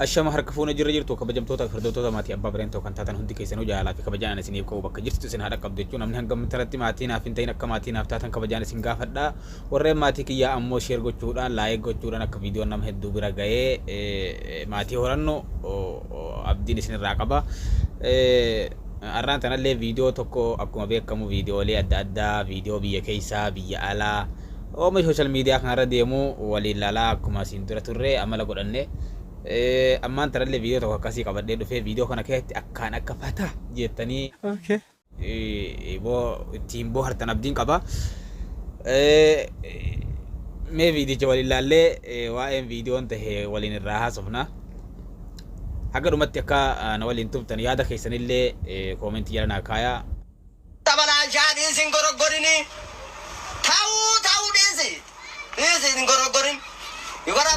Ashama harka fuune jirra jirtu kabajamtoota fi hordoftoota maatii Abbaa Bireentoo kan taatan hundi keessanuu jaalalaa fi kabajaan ani isiniif qabu bakka jirtu isin haa dhaqqabdu jechuun namni hanga ammi tanatti maatii naaf hin ta'in akka maatii naaf taatan kabajaan isin gaafadha warreen maatii kiyyaa ammoo share gochuudhaan like gochuudhaan akka viidiyoon nama hedduu bira ga'ee maatii horannu abdiin isin irraa qaba har'aan tanallee viidiyoo tokko akkuma beekamu viidiyoolee adda addaa viidiyoo biyya keessaa biyya alaa Oomishni social media kanarra deemu waliin laalaa akkuma asiin dura turre amala godhanne ammaan tanallee viidiyoo tokko akkasii qabadhee dhufee viidiyoo kana keessatti akkaan akka fata jettanii ittiin boohartan abdiin qaba. Mee viidiyicha waliin laallee waa'een viidiyoon tahe waliin irraa haasofna. Haga dhumatti akka na waliin turtan yaada keessanillee koomentii jala naa kaayaa. Xabalaalchaa dhiisi hin goroggorini Tauu tauu dhiisi dhiisi hin goroggorin You gotta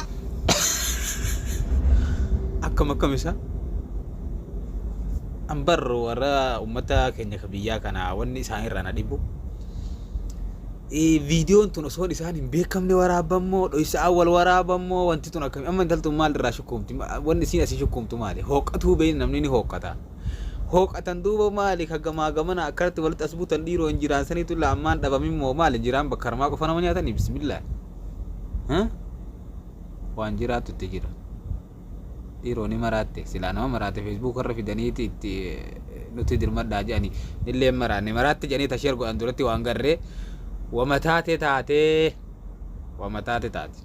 Akkam akkam isa an bar warra ummata keenya ka biyyaa kana wanni isaan irraa na dhibu viidiyoon tun osoo isaan hin beekamne waraabammoo dhoysa awwal waraabammoo wanti tun akkami amma intaltun maal irraa shukkuumti wanni isiin asii shukkuumtu maali hooqqatuu beeyne namni ni hooqqata hooqatan duuba maali ka gamaa gamana akkanatti walitti as butan dhiiroo hin jiraan saniitu la ammaan dhabamin moo maali jiraan bakka harmaa qofa nama nyaatanii bismillah Huh? waan jiraatu itti jira dhiiroo ni maraatte silaa nama maraatte feesbuuk irra fidaniiti itti eh, nutti dirmadhaa jedhani nillee hin maraanne maraatte jedhanii tasheer godhan duratti waan garree wama taate taatee wama taate taate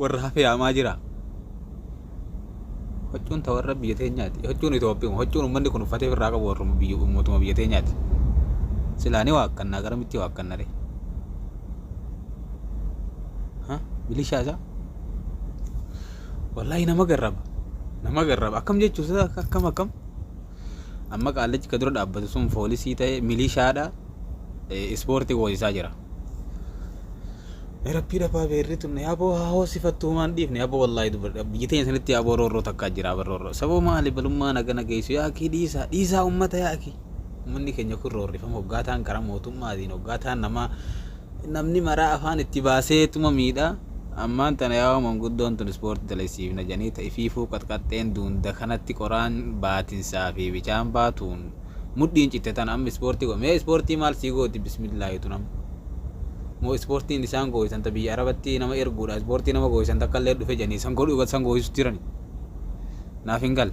warra hafee haamaa jira. Hoccuun ta warra biyya teenyaati. Hoccuun Itoophiyaa. Hoccuun uummanni kun uffatee irraa qabu warra biyya mootummaa biyya teenyaati. Silaanii waa akkannaa gara mitti waa akkanna ree. Milishaa isaa. Wallaahi nama garraba. Nama garraba. Akkam jechuun akkam akkam. Amma qaallichi ka dura dhaabbatu sun foolisii ta'e milishaadha ispoortii hoosisaa jira. Rabbii dhabaa beerri tun aboo haa hoosifattu homaan dhiifne aboo wallaahi dubbadha biyyi teenya sanitti aboo roorroo takkaa jira aboo roorroo saboo maali balummaa nagana geessu yaa akii dhiisaa dhiisaa ummata yaa akii ummanni keenya kun roorrifama hoggaataan karaa mootummaatiin hoggaataan namaa Namni maraa afaan itti baasee tuma miidha. Ammaan tana yaa'oo manguddoon tun ispoortii dalaysiifna jedhanii ta ifiifuu qaxqaxxeen duunda kanatti qoraan baatinsaa fi bichaan baatuun mudhiin citte tana amma ispoortii go mee ispoortii maal sii gooti bismillaahi tun amma moo ispoortiin isaan gooysan ta biyya arabatti nama erguudha ispoortii nama gooysan takka illee dhufe jedhanii san godhu san gooysus jirani naaf hin galle.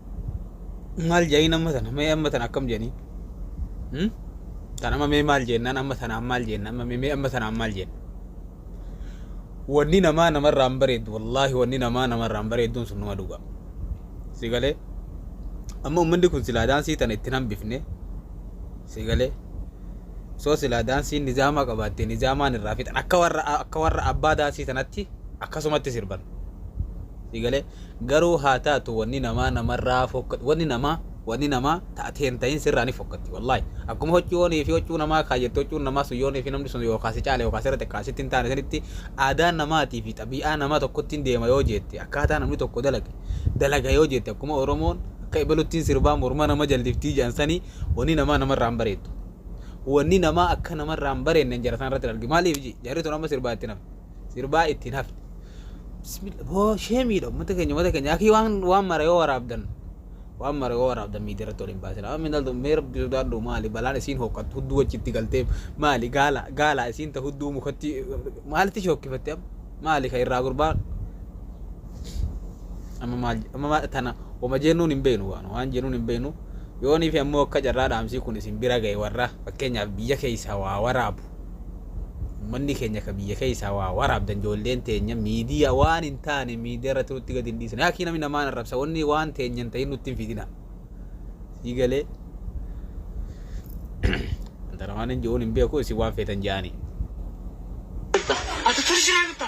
maal jedhaniin amma tana mee amma tana akkam jedhanii hmm? tan amma mee maal jennaan amma tanaan maal jenna amma mee mee amma tanaan maal jenna wanni namaa namarraa hin bareeddu wallaahi wanni namaa namarraa hin bareedduun sun nama dhugaa si galee amma ummanni kun silaa daansii tana ittiin hambifne si galee soo silaa daansiin nizaamaa qabaatte nizaamaan irraa fixan akka warra akka warra abbaa daansii tanatti akkasumatti sirban si galee Garuu haa taatu wanni namaa namarraa fokkatti wanni namaa wanni namaa ta ati hin tahin sirraa ni fokkatti wallahi akkuma hoccuu onii fi hoccuu namaa kaayyatte hoccuun namaa sun yoonii fi namni sun yookaa si caale yookaa sirra xiqqaa sitti hin taane sanitti aadaa namaatii fi xabii'aa nama tokkottiin deema yoo jeette akkaataa namni tokko dalage dalaga yoo jeette akkuma oromoon akka ebaluttiin sirbaa morma nama jalliftii jedhan sanii wanni namaa namarraa hin bareeddu wanni namaa akka namarraa hin bareedne jara sana irratti hin argi maaliif ji jarri tun amma sirbaa itti nama sirbaa ittiin hafne bismillah boo sheemiidha ummata keenya ummata keenya akii waan waan mara yoo waraabdan waan mara yoo waraabdan miidiyaa irratti waliin baasin amma minaltu mee rabbi sodaadhu maali balaan isiin hoqqattu hudduu achitti galtee maali gaala gaala isiin ta hudduu mukatti maalitti shookkifatte amma maali ka irraa gurbaan amma maal amma maal tana wama jennuun hin beeknu waan waan jennuun hin beeknu yoonii fi ammoo akka carraa dhaamsii kun isin bira ga'e warra fakkeenyaaf biyya keessaa waa waraabu Ummanni keenya ka biyya keessaa waa waraabdan ijoolleen teenya miidiyaa waan hin taane miidiyaa irratti nutti gadi hin dhiisina. Yaakii namni namaan arrabsa wanni waan teenya hin ta'in nutti hin fidina. Sii galee antara waan hin je'uun hin beeku isin waan feetan je'aanii. Ati tursiraa bitta.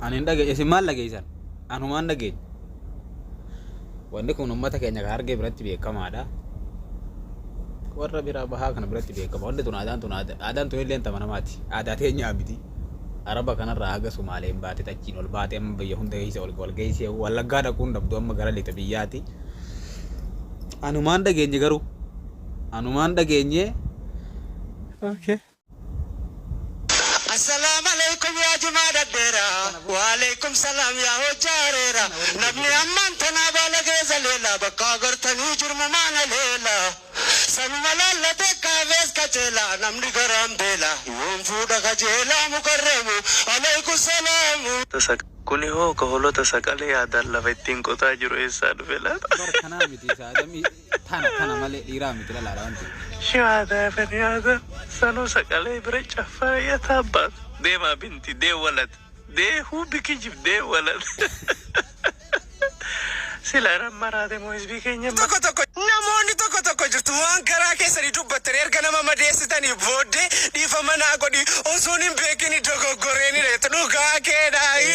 Ani hin dhageenye isin maal dhageessan? Anumaan dhageenye. Wanni kun uummata keenya kan argee biratti beekamaadha. Warra biraa bahaa kana biratti beekama. Wanni tun aadaan tun aada- aadaan tun illee tama namaati. Aadaa teenyaa miti. Araba kanarraa haga Sumaaleen baate achiin ol baate amma biyya hunda keessa ol ol geessee wallaggaa dhaquun dhabdu amma gara lixa biyyaati. Anumaan dhageenye garuu. anumaan dhageenyee. Okay. Assalam aleykum yaa jimaa dhadheera waaleykum salaam yaa hojjaa areera namni ammaan tanaa baalagee zaleela bakka agartanii jirmumaa na leela sanuma laallatee kaafees qaceela namni garaan beela yoom fuudha kajeelaa mukarramu aleykum salaamu. Kuni hoo ka holota saqalee aadaan lafa ittiin qotaa jiru eessaa dhufe laata? Bar kanaa miti isaa adamii. Tana tana malee dhiiraa miti lalaadha wanti. Shiwaada faniyaada sanuu saqalee bira caffaa yataa abbaat deemaa binti dee walat dee huu bikijib dee walat sila irra maraate moo hizbii keenya hin tokko tokko namoonni tokko tokko jirtu waan garaa keessanii dubbattan erga nama madeessitanii booddee dhiifama naa godhi osoon hin beekin dogoggoreenidha jettu dhugaa keedhaayi.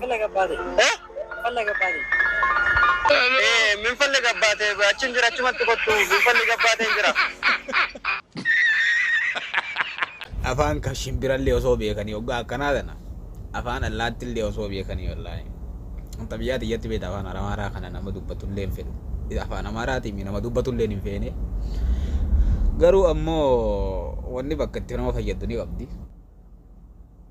Falla gabbaate. Eh? Falla gabbaate. Eh, min falli gabbaate achi hin jira achumatti kottu min falli gabbaate hin jira. afaan kan shimbirallee osoo beekanii hoggaa akkanaa tana afaan allaattillee osoo beekanii wallaahi wanta biyyaa tiyyatti beekta afaan amaaraa kana nama dubbatullee hin fedhu afaan amaaraatiin nama dubbatullee hin feene garuu ammoo wanni bakka itti nama fayyaddu ni qabdi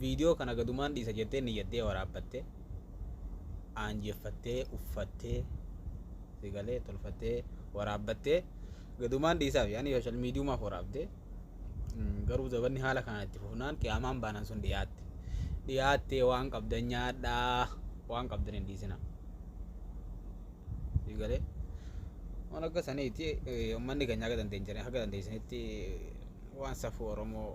Viidiyoo kana gadumaan dhiisa jettee niyyaddee waraabbatte aanjeffattee uffattee si galee tolfattee waraabbattee gadumaan dhiisaaf yaani sooshaal miidiyumaaf waraabde garuu zabanni haala kanaan itti fufnaan qiyaamaan baanan sun dhiyaatte dhiyaattee waan qabdan nyaadhaa waan qabdan hin dhiisina. sii galee waan akka saniiti ummanni keenya akka dandeenyanii akka dandeessanitti waan safuu oromoo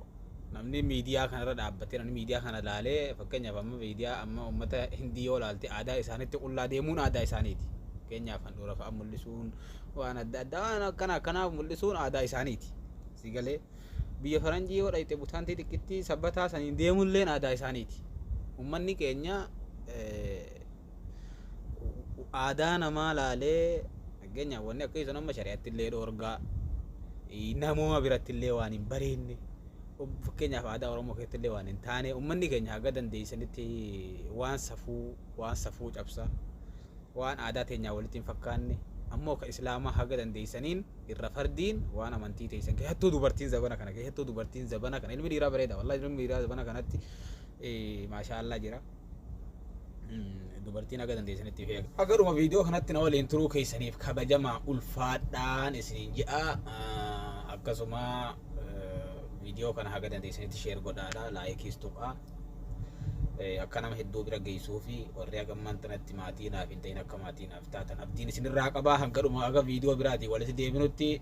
namni miidiyaa kanarra dhaabbatee namni miidiyaa kana laalee fakkeenyaaf amma miidiyaa amma ummata hindii yoo laalte aadaa isaanitti qullaa deemuun aadaa isaaniiti fakkeenyaaf handhuura fa'a mul'isuun waan adda addaa waan akkana akkanaa mul'isuun aadaa isaaniiti sii galee biyya faranjii yoo dhayxe butaantii xiqqittii sabbataa saniin deemuun illeen aadaa isaaniiti ummanni keenya eh, aadaa namaa laalee fakkeenyaaf wanni akka sun amma shari'atti illee dhoorgaa namooma biratti illee waan hin bareenne fakkeenyaaf aadaa Oromoo keessatti illee waan hin taane uummanni keenya haga dandeessanitti waan safuu waan safuu cabsa waan aadaa teenyaa walitti hin fakkaanne ammoo ka islaamaa haga dandeessaniin irra fardiin waan amantii teessan keessattuu dubartiin zabana kana keessattuu dubartiin zabana kana ilmi dhiiraa bareeda wallahi ilmi dhiiraa zabana kanatti maashaa Allah jira. dubartiin haga dandeessanitti feega. Haga dhuma viidiyoo kanatti na waliin turuu keessaniif kabajamaa ulfaadhaan isiniin jedha. Akkasuma viidiyoo kana haga dandeessanitti sheer godhaadha. Laayikiis tuqaa. Akka nama hedduu bira geessuu fi warri haga ammaan tanatti maatii naaf hin ta'in akka maatii naaf taatan abdiin isinirraa qabaa. Hanga dhuma haga viidiyoo biraatiin walitti deebinutti.